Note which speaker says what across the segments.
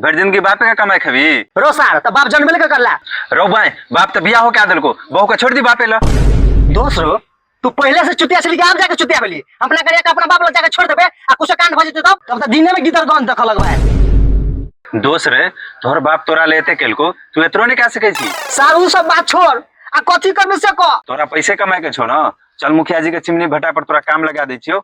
Speaker 1: भरि जिंदगी बापे के कमाई खबी रो सार त बाप
Speaker 2: जन्मले के करला रौ भाई बाप
Speaker 1: तो बियाह हो के आ दिलको बहू के छोड़ दी बापे ला दोस्त रो
Speaker 2: तू पहले से चुतिया छली आम जाके चुतिया भेली अपना करिया के अपना बाप लग जाके छोड़ देबे आ कुछ कांड भ जते तब तब त दिने में गीतर गन देख लगबा दोस्त
Speaker 1: रे तोहर बाप तोरा लेते केलको तू एतरो नहीं कह सके छी सार उ सब बात छोड़
Speaker 2: आ कथी करबे से कह तोरा पैसे कमाए के छो
Speaker 1: ना चल मुखिया जी के चिमनी भट्टा पर तोरा काम लगा दै छियो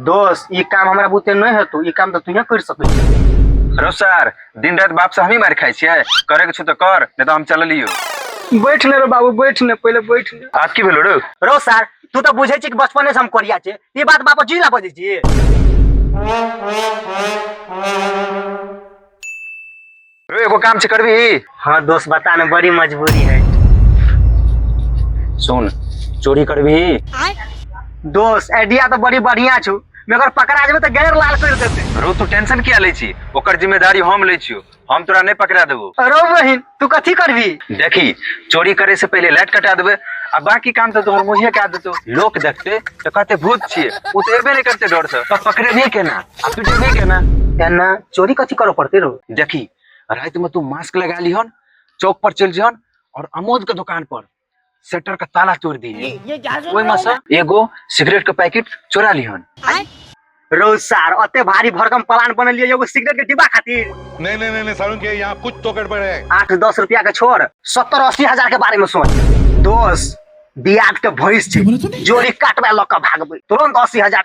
Speaker 2: दोस्त ई काम हमरा बुते नहि हेतौ ई काम तऽ तूहे करि सकै छी रो सर
Speaker 1: दिन रात बाप से हमही मार खाइ छियै करे के छौ तऽ कर नहि तऽ हम चललियो बैठ ने रे
Speaker 2: बाबू बैठ ने पहिले बैठ ने आब की भेलो रे रो
Speaker 1: सर
Speaker 2: तू तऽ बुझै छी कि बचपने से हम कोरिया छी ई बात बाप जी ला बजै छी
Speaker 1: रे एगो काम छै करबी हाँ दोस्त बता ना
Speaker 2: बड़ी मजबूरी है
Speaker 1: सुन चोरी करबी
Speaker 2: दोस्त आइडिया तो बड़ी बढ़िया छू मगर पकड़ा जेबे तो गैर लाल कर देते रो तू टेंशन किया लै
Speaker 1: छी ओकर जिम्मेदारी हम लै छियो हम तोरा नहीं पकड़ा देबो अरे बहिन तू
Speaker 2: कथी करबी देखी
Speaker 1: चोरी करे से पहले लाइट कटा देबे आ बाकी काम तो तोहर मुँहे कह देतो लोक देखते तो कहते भूत छिए उ तो एबे नहीं करते डर से तो पकड़े नहीं केना अब तू जेबे के ना एना चोरी
Speaker 2: कथी करऽ पड़ते रो देखी रात
Speaker 1: में तू मास्क लगा लिहन चौक पर चल जहन और अमोद के दुकान पर शटर का ताला तोड़ दी ये क्या सुन ओए रहा हूँ मसा एगो सिगरेट के पैकेट चोरा लिहन रो
Speaker 2: सार अते भारी भरकम प्लान बनल लिए एगो सिगरेट के डिब्बा खातिर नहीं नहीं नहीं, नहीं सारुण के
Speaker 3: यहाँ कुछ तो गड़बड़ है आठ दस रुपया के छोड़
Speaker 2: सत्तर अस्सी हजार के बारे में सोच दोस्त बियाद के भैंस छै जोड़ी काटबा लऽ कऽ भागबै तुरंत अस्सी हजार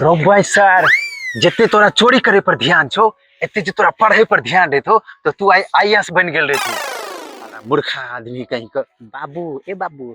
Speaker 1: रौबाई सर जते तोरा चोरी करे पर ध्यान छो एते जे तोरा पढ़े पर ध्यान देतो तो तू आई आईएएस बन गेल रहती साला मूर्खा आदमी
Speaker 2: कहीं का बाबू ए बाबू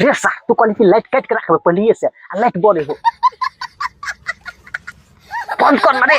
Speaker 2: रे सा तू कहली कि लाइट काट के रखबे पहले से आ लाइट बड़े हो बंद कर मरे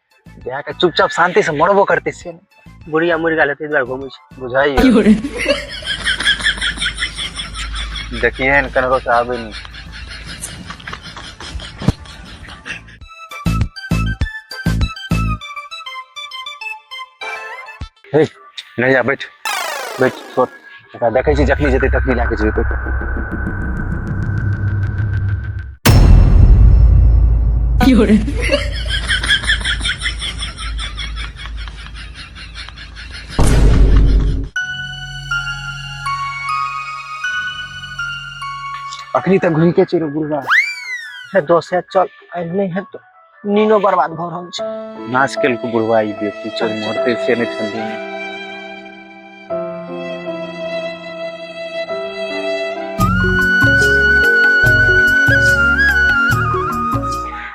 Speaker 1: बियाह के चुपचाप शांति से मरबो करते छियै ने बुढ़िया मरि गेल
Speaker 2: ताहि दुआरे घुमै छै बुझाइयो
Speaker 1: देखिए ने कनरो से आबे नहीं हे नैया बैठ बैठ छोड़ एकरा देखै छी जखनी जेतै तखनी लए कऽ जेबै बैठ अखनी तक घुमिते चलि बुढ़वा हे दोस्त
Speaker 2: हे चल आइ नहि हेतौ नीनो बर्बाद भऽ रहल छै नाश केलको
Speaker 1: बुढ़वा ई बेटी चल मरते से नहि ठंडी में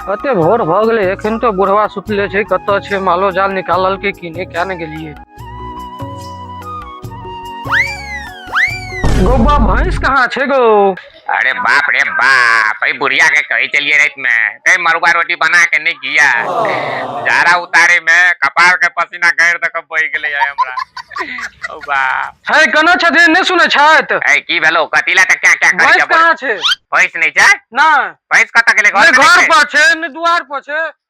Speaker 4: कते भोर भऽ गेलै एखन तो बुढ़वा सुतले छै कतऽ छै मालो जाल निकालल के किने क्या ने गेलिए गौबा भैंस कहाँ छै गौ अरे बाप
Speaker 5: रे बाप भाई बुढ़िया के कही चलिए रात में कहीं मरुआ रोटी बना के नहीं किया जारा उतारे में कपार के पसीना गैर तक बह गेले है हमरा ओ बा छै कना छथि
Speaker 4: नहि सुनै छथि ए की भेलो कतिला
Speaker 5: तक क्या क्या कर भैंस जब कहाँ छै
Speaker 4: भैंस नहीं छै
Speaker 5: ना भैंस कत
Speaker 4: गेले घर नहि
Speaker 5: में घर नहीं छै? पर छै
Speaker 4: नहि
Speaker 5: दुआर पर
Speaker 4: छै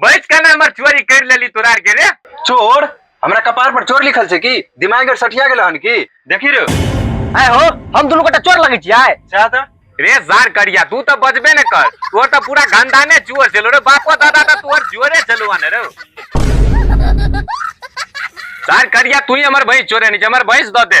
Speaker 5: बैठ के ना हमर चोरी कर लेली तोरा आर के रे चोर हमरा
Speaker 1: कपार पर चोर लिखल छै की दिमाग और सठिया गेल हन की देखी रे आय हो
Speaker 2: हम दुनू गोटा चोर लगै छियै चाह त रे
Speaker 1: जार करिया
Speaker 5: तू तो बजबे न कर तोर तो पूरा खानदाने चोर चलो रे बापो दादा तो तोर जोरे चलुआ ने रे जार करिया तू ही हमर भैंस चोरे नहीं हमर
Speaker 1: भैंस
Speaker 5: दो
Speaker 1: दे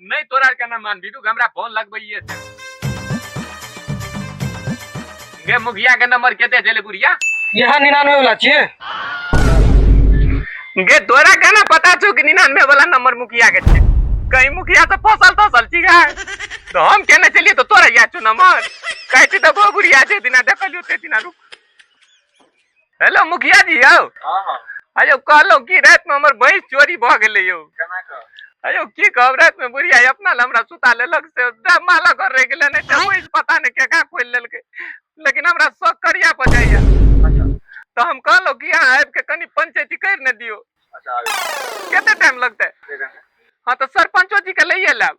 Speaker 2: नहीं तोरा आर के ना मान
Speaker 5: बिटू के हमरा फोन लगबैये से गे मुखिया के नंबर केते देले बुढ़िया यहाँ निन्यानवे
Speaker 4: वाला छियै
Speaker 5: गे तोरा के ना पता छौ कि निन्यानवे वाला नंबर मुखिया के छै कहीं मुखिया से फसल तसल छी गा तो हम केने चलिए तो तोरा याद छौ नंबर कहती तो गो बुढ़िया जे दिना देखलियो ते दिना रुक हेलो मुखिया जी यौ हाँ हाँ अयौ कहलहुँ कि रातिमे हमर भैंस चोरी भऽ गेलै यौ केना कऽ अयौ की कहब रातिमे बुढ़िया अपना लए हमरा सुता लेलक से माला घर रहि गेलै नहि तऽ भैंस पता नहि केका खोलि लेलकै लेकिन हमरा शौक करिया पर जाइया अच्छा तऽ हम कहलहुँ कि अहाँ आबि कऽ कनि पंचायती करि ने दियौ अच्छा आबि कते टाइम लगतै ठीक है हाँ तऽ सरपंचो जी के लैये लायब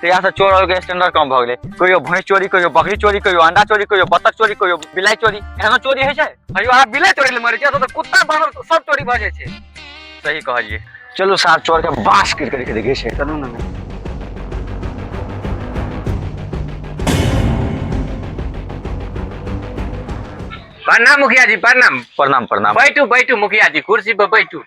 Speaker 6: तो यहाँ से चोर और स्टैंडर्ड कम भग गए कहियो भैंस चोरी कहियो बकरी चोरी कहियो अंडा चोरी कहियो बत्तख चोरी कहियो बिलाई चोरी एहनो चोरी है कहियो अहाँ बिलाई चोरी ले
Speaker 4: मरे छियै तो कुत्ता बानर सब चोरी भऽ जाइ छै सही कहलिए
Speaker 6: चलो साहब चोर के बास गिर करके देखे छै चलू ना
Speaker 5: प्रणाम मुखिया जी प्रणाम प्रणाम प्रणाम बैठू
Speaker 6: बैठू मुखिया जी
Speaker 5: कुर्सी पर बैठू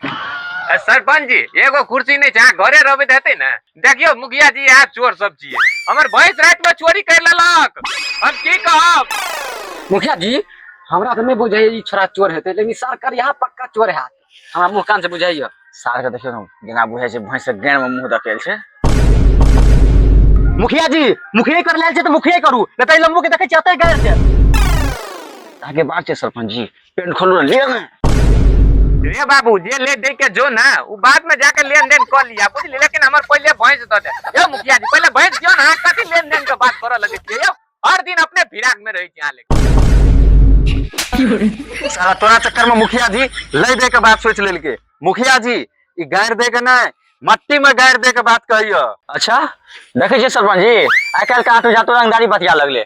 Speaker 5: सरपंच जी एगो कुर्सी नहीं छै अहाँ घरे रहबे हेतै ने देखियो मुखिया जी यहाँ चोर सब छिए हमर भैंस रात में चोरी कर लेलक हम की कहब मुखिया जी
Speaker 4: हमरा तो नहीं बुझे ई छोरा चोर हेते लेकिन सर कर यहाँ पक्का चोर है हमरा मुंह कान से बुझाइयो सार के देखियो ना
Speaker 6: गेना बुझे छै भैंस के गेन में मुंह दकेल छै
Speaker 2: मुखिया जी मुखिया कर लेल छै तो मुखिया करू नहीं तो ई लम्बू के देखे चाहते गैर छै
Speaker 6: ताके बात छै सरपंच जी पेन खोल रहा लिया ना रे
Speaker 5: बाबू जे ले दे के जो ना उ बाद में जाके लेन देन कर लिया बुझ ले लेकिन हमर पहले भैंस दे दे यो मुखिया जी पहले भैंस दियो ना कथी लेन देन के बात करे लगे छिए यो हर दिन अपने फिराक में रही यहाँ लेके साला तोरा चक्कर में
Speaker 6: मुखिया जी ले दे के बात सोच लेलके मुखिया जी ई गाड़ दे के नहीं मट्टी में गाड़ दे के बात कहियो अच्छा देखे छी सरपंच जी आइ काल्हि के आठो जातो रंगदारी बतिया लगले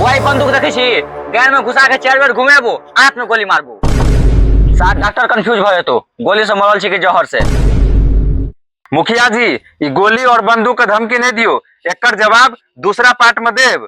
Speaker 6: वही बंदूक देखे छी गैर में घुसा के चारि बेर घुमेबो आठ में गोली मारबो सात डॉक्टर कंफ्यूज भ जेतो गोली से मरल छी के जहर से मुखिया जी ई गोली और बंदूक के धमकी नहीं दियो एकर जवाब दूसरा पार्ट में देब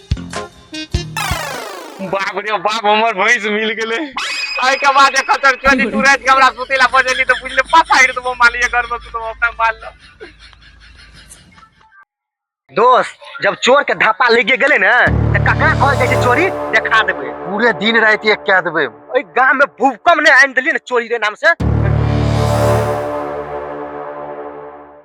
Speaker 5: बाप रे बाप हमर भैंस मिल गेले आई के बाद एक खतर चली तू रात के हमरा सुतेला बजेली तो बुझले पसाइर तो मालिए घर में सुतो अपना माल लो
Speaker 2: दोस्त जब चोर के धापा लेके गेले ना तो ककरा कहल जाय छै चोरी देखा देबे पूरे दिन रात एक कह
Speaker 1: देबे
Speaker 2: ओइ
Speaker 1: गांव
Speaker 2: में भूकंप ने आनि देलिए
Speaker 1: ना
Speaker 2: चोरी रे नाम से